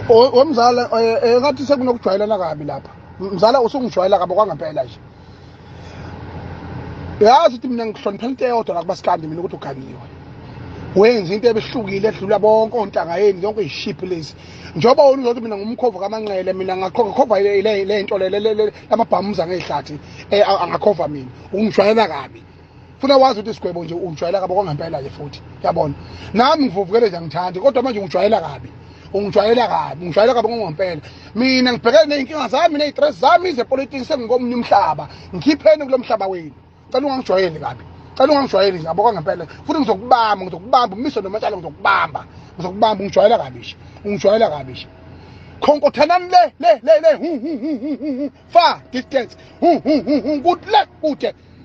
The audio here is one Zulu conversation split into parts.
womzala eh, eh, ngathi sekunokujwayelana kabi lapha mzala usungijwayela kabi kwangempela nje yazi ukuthi mina ngihloniphela into eyodwa la kubasikandi mina ukuthi uganiwe wenza into ebehlukile edlula bonke ontanga yeni yonke izishiphi lezi njengoba wona uzothi mina ngumkhovu kamanqele mina ngakhova le nto lamabhamuza ngeyihlathi eh, angakhova mina ungijwayela kabi funa wazi ukuthi isigwebo nje ungijwayela kabi okwangempela nje futhi yabona nami ngivuvukele nje angithandi kodwa manje ungijwayela kabi ungijwayela kabi ungijwayela kabi ngokwempela mina ngibhekene nezinkinga zami nezitres zami zepolitiki sengikomunye umhlaba ngikhipheni kulo mhlaba wenu cela ungangijwayeli kabi cela ungangijwayeli nje aboka ngempela futhi ngizokubamba ngizokubamba umise nomatshalo ngizokubamba ngizokubamba ungijwayela kabi nje ungijwayela kabi nje khonkothanani le le le le hu hu hu hu hu fa distance hu hu hu hu kude kude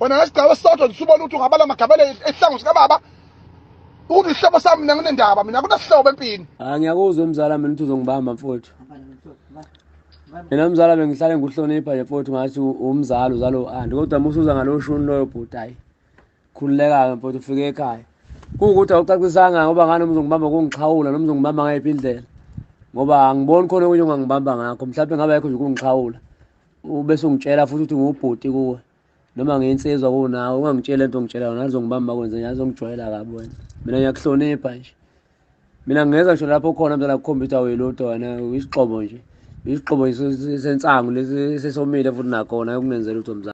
wena ngesigaba esisodwa nje ubona ukuthi ungabala amagabele esihlango sikababa ukuthi isihlobo sami mina nginendaba mina kunasihlobo empini hayi ah, ngiyakuzwa mzala mina ukuthi uzongibamba mfowethu mina mzala bengihlale ngikuhlonipha nje mfowethu ngathi umzala uzalo andi kodwa musuza ngalowo shuni loyo bhuti hayi khululeka-ke mfowethu ufike ekhaya kuwukuthi awucacisanga ngoba ngani umzongibamba kungixhawula noma uzongibamba ngayiphi indlela ngoba angiboni khona okunye ongangibamba ngakho mhlawumbe ngabe ayikho nje ukungixhawula ubese ungitshela futhi ukuthi ngiwubhuti kuwe noma ngiyinsizwa kunawe ungangitsheli lento ngitshela yona azongibamba kwenze nje azongijwayela kabi wena mina ngiyakuhlonipha nje mina ngingeza ngisho lapho khona mntana kukhombisa uyilutho wena uyisixobo nje isixobo sensangu lesi sesomile futhi nakhona ukunenzela utho mzansi